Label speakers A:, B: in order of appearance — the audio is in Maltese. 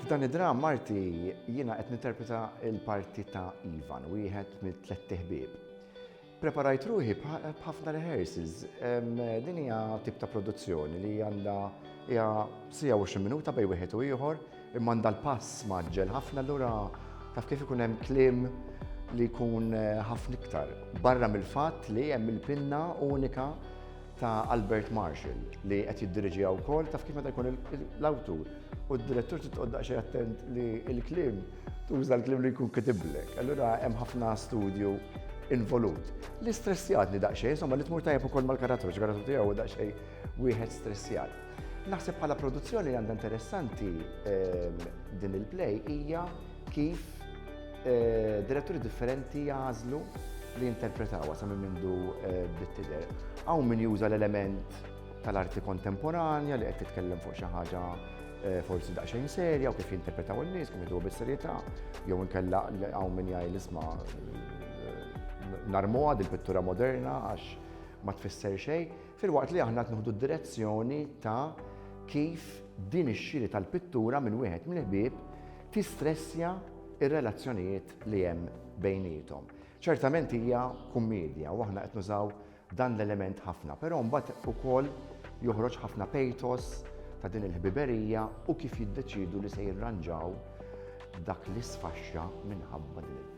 A: F'dan id-dramm arti jiena qed ninterpreta l-parti ta' Ivan, wieħed mit-tlett iħbieb. Preparajt ruħi b'ħafna rehearsals. Din hija tip ta' produzzjoni li għandha hija sija u minuta bej wieħed u ieħor, imma għandha l-pass maġġel ħafna lura taf kif ikun hemm kliem li jkun eh, ħafna iktar. Barra mill-fatt li hemm il-pinna unika ta' Albert Marshall li qed jiddiriġiha wkoll taf kif meta jkun l-awtur u d-direttur trid tqgħod daqsxejn attent li l-kliem tuża l-kliem li jkun kitiblek. Allura hemm ħafna studju involut. Li stressjatni daqsxejn, insomma li tmur tajjeb ukoll mal-karattru, ġgħaratu tiegħu daqsxejn wieħed stressjat. Naħseb bħala produzzjoni għandha interessanti ehm, din il-play hija kif Eh, diretturi differenti jazlu li jinterpretawa sa minn mindu eh, bit-tider. Għaw min juża l-element tal-arti kontemporanja li qed titkellem fuq xi ħaġa eh, forsi daqsxejn serja u kif jinterpretaw in-nies, kif jidu bis-serjetà, jew inkella hawn min jgħid isma' narmuha din pittura moderna għax ma tfisser xejn, filwaqt li aħna qed d-direzzjoni ta' kif din ix-xiri tal-pittura minn wieħed mill-ħbieb tistressja r-relazzjonijiet li hemm bejniethom. Ċertament hija kummedja u aħna qed nużaw dan l-element ħafna, però mbagħad ukoll joħroġ ħafna pejtos ta' din il-ħbiberija u kif jiddeċidu li se jirranġaw dak li sfaxxa minħabba din il